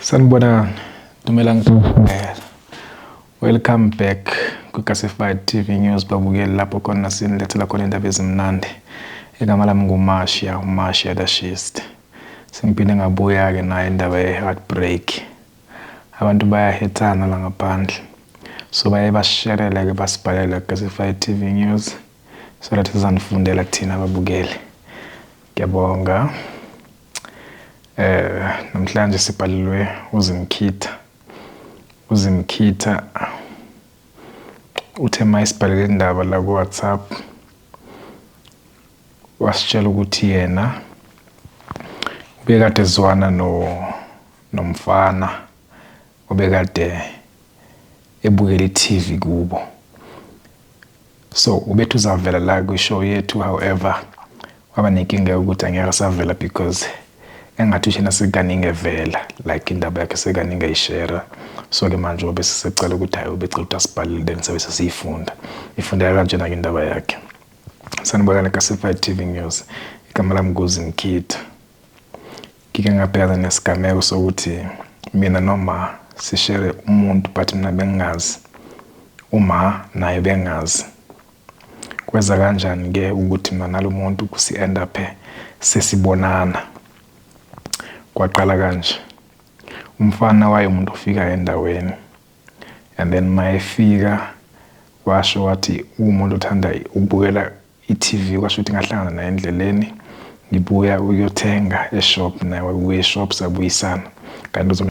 Sanibonani. Dumela ngibongela. Welcome back kwiClassified TV News babukeli lapho khona sinilethela khona indaba ezimnandi. Igama lami nguMasha, uMasha the Shist. Sengiphinde ngabuya ke nayo indaba ye-heartbreak. Abantu bayahethana la ngaphandle. So baye basherele ke basibhalela kuClassified TV News so that sizanifundela kuthina babukeli. Ngiyabonga. Eh namhlanje sibhalelwe uZimkhitha. UZimkhitha uthe mayisibhalele indaba la ku WhatsApp wasitshela ukuthi yena ubekade ezwana no nomfana Ubekade ebukela iTV kubo. So ubethi uzavela la kwishow yethu however waba nenkinga yokuthi angeke savela because engathi ushena sekaningi evela like indaba yakhe sekaningi ayishera so-ke manje wabe sesecela ukuthi hhayi ubecela ukuthi asibhalele then sabe sesiyifunda ifundeka kanjena-ke indaba yakhe sanibonana ka-certified tv news igama lami kuzi mkhitha Ngike ngabhekana nesigameko sokuthi mina noma sishere umuntu but mina bengingazi uma naye bengazi kweza kanjani ke ukuthi mina nalomuntu kusi end up sesibonana kwaqala kanje umfana waye umuntu ofika endaweni and then mayefika washo wathi umuntu othanda ukubukela I-TV kwasho ukuthi ngahlangana naye endleleni ngibuya ukuyothenga eshop naye wabuya eshop sabuyisana kanti uzong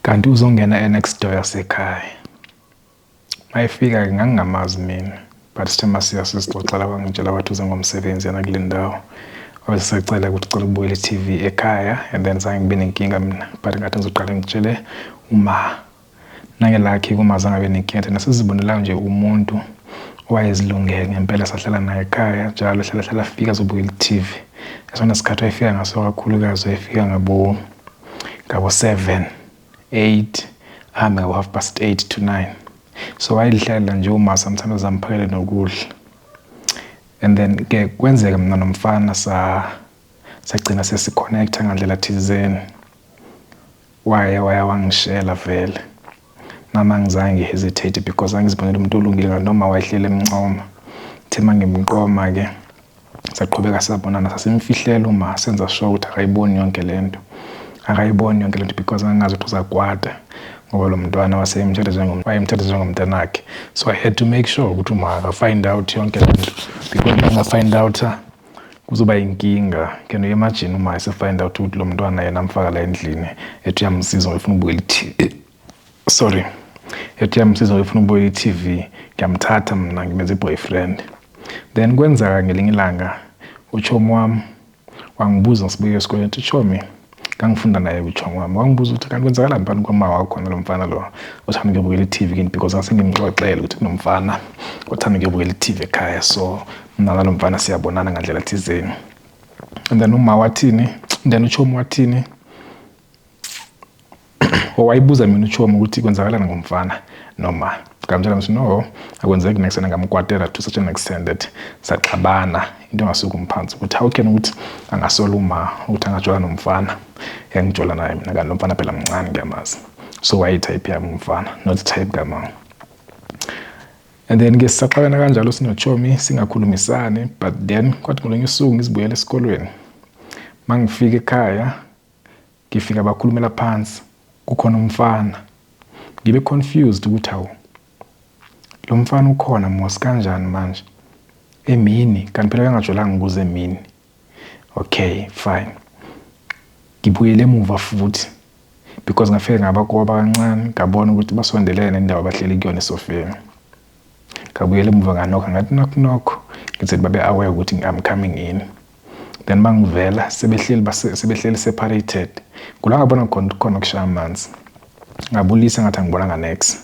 kanti uzongena enext door yasekhaya mayefika-ke ngangingamazi mina but sithe masiya sizixoxela kwangitshela wathi uze ngomsebenzi yena kule ndawo wabe sesecela ukuthi cela ukubuyela i-tv ekhaya and then zange ngibe nenkinga mina but ngathi ngizoqale ngitshele uma Nangelakhi kuma zange abe nekhethe nasizibonelayo nje umuntu owayezilungele ngempela sahlala naye ekhaya njalo hlala hlala afika azobukela i-TV esona sikhathi wayefika ngaso kakhulukazi wayefika ngabo ngabo 7 8 ahambe ngabo half past 8 to 9 so wayelihlalela nje uma sometimes zamphakele nokudla and then ke kwenzeka mina nomfana sa sagcina sesi-connect-a ngandlela thizeni. Waye waya wangishela vele. Nami angizange ngi-hesitate because angizibonela umuntu olungile ngathi noma wayehleli emncoma. Ngithe uma ngimqoma-ke saqhubeka sabonana sasimfihlela uma senza sure ukuthi akayiboni yonke le nto. Akayiboni yonke le nto because ngangazi ukuthi uzakwata ngoba lo mntwana waseyemthatha njengom wayemthatha njengomntanakhe. So I had to make sure ukuthi uma akafind out yonke le nto because uma engafind out-a kuzoba yinkinga can you imagine uma ese find out ukuthi lo mntwana yena amfaka la endlini ethi uyamsiza ngifuna ukubukela i-tv sorry ethi uyamsiza ngifuna ukubukela i-tv ngiyamthatha mina ngimenza i-boyfriend then kwenzeka ngelinye ilanga utshomi wami wangibuza ngisibuke esikoleni ukuthi tshomi ngangifunda naye kujong wami wangibuza ukuthi kanti kwenzakala mpani kwama wakho nalo mfana lo othanda ukuyobukela i-tv kini because asengimxoxele ukuthi kunomfana othanda ukuyobukela i-tv ekhaya so mna nalo mfana siyabonana ngandlela thizeni and then uma wathini then uchomi wathini owayibuza mina uchomi ukuthi kwenzakalani ngomfana noma ngamtshela ngithi no akwenzeki next time ngamkwatela to such an extent that saxabana into engasuka umphansi ukuthi how can ukuthi angasola uma ukuthi angajola nomfana yangijola naye mina kanti lomfana phela mncane ngiyamazi so wayetype yami umfana not type kamama and then ke sisaxabana kanjalo sinochomi singakhulumisani but then kwathi ngolunye usuku ngizibuyela esikolweni mangifika ekhaya Ngifika bakhulumela phansi kukhona umfana. Ngibe confused ukuthi hawu lomfana ukhona mos kanjani manje emini kanti phela bengajwayelanga ukuza emini. Okay fine. Ngibuyele emuva futhi because ngafike ngabakoba kancane ngabona ukuthi basondelene nendawo abahleli kuyona esofeni. Ngabuyela emuva nganokha ngathi knock knock ngithi babe aware ukuthi I'm coming in. then bangivela sebehleli sebehleli separated kula ngabona khona khona kushaya amanzi ngabulisa ngathi angibonanga next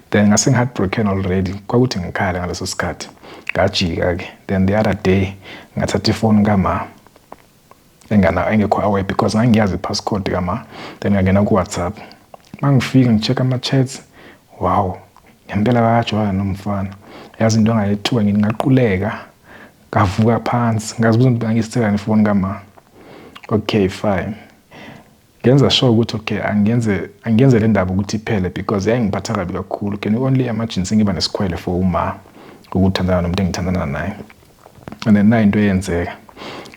then ngase ngi-heartbroken already kwakuthi ngikhale ngaleso sikhathi ngajika-ke then the other day ngathatha ifoni kama engana engekho away because ngangiyazi i-passcode kama then ngangena ku-whatsapp uma ngifika ngi-check ama-chats wow ngempela bakajwala nomfana yazi into angayethuka ngithi ngaquleka ngavuka phansi ngazibuza ukuthi angisithelani ifoni kama okay fine ngenza sure ukuthi okay angenze angenze le ndaba ukuthi iphele because yayingiphatha kabi kakhulu can you only imagine sengiba nesikhwele for uma ukuthandana nomuntu engithandana naye and then nayo into eyenzeka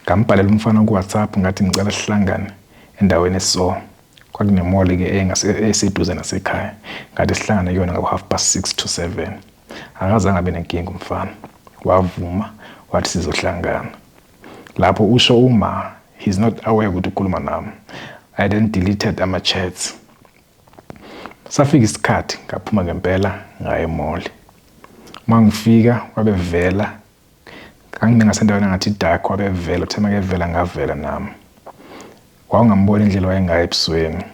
ngambhalela umfana kuwhatsapp ngathi ngicela sihlangane endaweni eso kwakunemoli-ke eseduze nasekhaya ngathi sihlangane kuyona ngabo-half past six to seven Akazange abe nenkinga umfana. Wavuma wathi sizohlangana. Lapho usho uma he's not aware ukuthi ukhuluma nami. I then deleted ama chats. Safika isikhathi ngaphuma ngempela ngaye mall. Mangifika wabevela kangingasendaweni ngathi dark wabevela uthe makevela ngavela nami. Wawungambona indlela wayengayo ebusweni.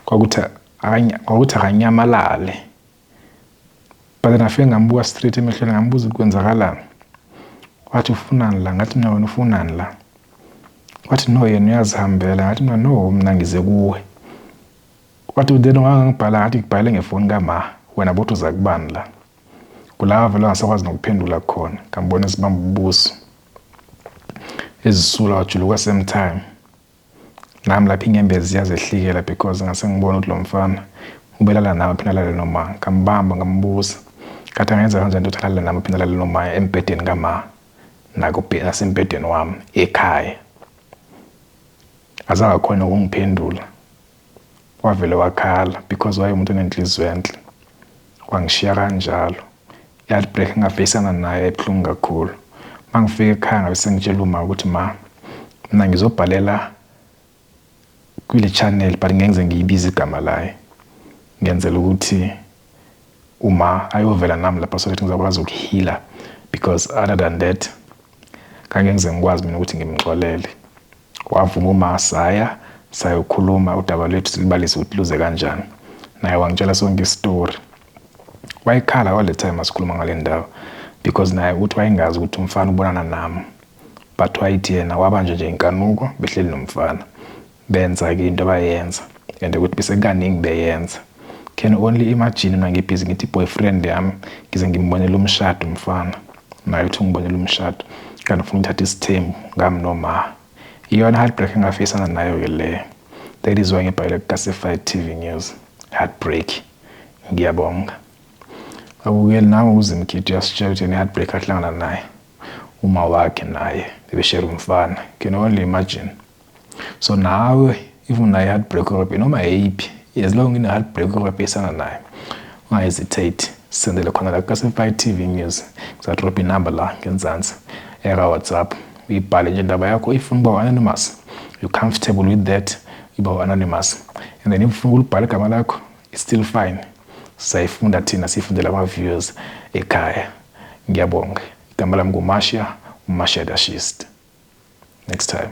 Kwakuthi kwakuthi akanyamalale. but ngafike ngambuka straight emehlweni ngambuza ukuthi kwenzakalani wathi ufunani la ngathi mina wena ufunani la wathi no yena uyazihambela ngathi mina no mina ngize kuwe wathi then ungangibhala ngathi ngibhale ngefoni kama wena bothi uza kubani la kulava vele angasakwazi nokuphendula khona ngambona esibamba ubuso ezisula wajuluka same time Nami lapha inyembezi ziyazehlikela because ngase ngibona ukuthi lo mfana ubelala nami aphinde alale noma. Ngambamba ngambuza ngathi angenza kanjani ukuthi alale nami aphinde alale noma embhedeni kama nasembhedeni wami ekhaya. Azange akhone ukungiphendula wavele wakhala because wayengumuntu onenhliziyo enhle wangishiya kanjalo yathi break ngafeyisana naye ebuhlungu kakhulu uma ngifika ekhaya ngabe sengitshela uma ukuthi ma mina ngizobhalela kule channel but ngeke ngize ngiyibize igama layo ngenzela ukuthi uma ayovela nami lapha so that ngizakwazi ukuhila because other than that kange ngize ngikwazi mina ukuthi ngimxolele Wavuma uma saya sayokhuluma udaba lwethu silibalise ukuthi luze kanjani. Naye wangitshela sonke isitori. Wayekhala all the time asikhuluma ngale ndaba because naye uthi wayengazi ukuthi umfana ubonana nami. But wayithi yena wabanjwa nje inkanuko behleli nomfana. Benza-ke into abayenza and ukuthi besekaningi beyenza. Can only imagine mina ngibhizi ngithi boyfriend yami ngize ngimbonele umshado umfana. Naye uthi ungibonela umshado kanti ufuna ukuthatha isithembu ngami noma. Iyona heartbreak engafisana nayo ke leyo. That is why ngibhalele kuClassified TV News. Heartbreak. Ngiyabonga. Babukeli nangu uZimkhithi uyasitshela ukuthi yena heartbreak ahlangana naye. Uma wakhe naye bebeshare umfana. Can only imagine. so nawe if unayo heartbreak therapy noma yeyiphi as long ine heartbreak therapy esana nayo ungahesitate sendele khona la kukasemfai tv news ngizadrobha inumber la ngenzansi eka-whatsapp uyibhale nje indaba yakho ifuna uba u-anonymous you comfortable with that uba u-anonymous and then ifuna ukulibhala igama lakho it's still fine sayifunda thina siyifundela ama-viewers ekhaya ngiyabonga Igama lami nguMasha, uMasha Dashist. Next time.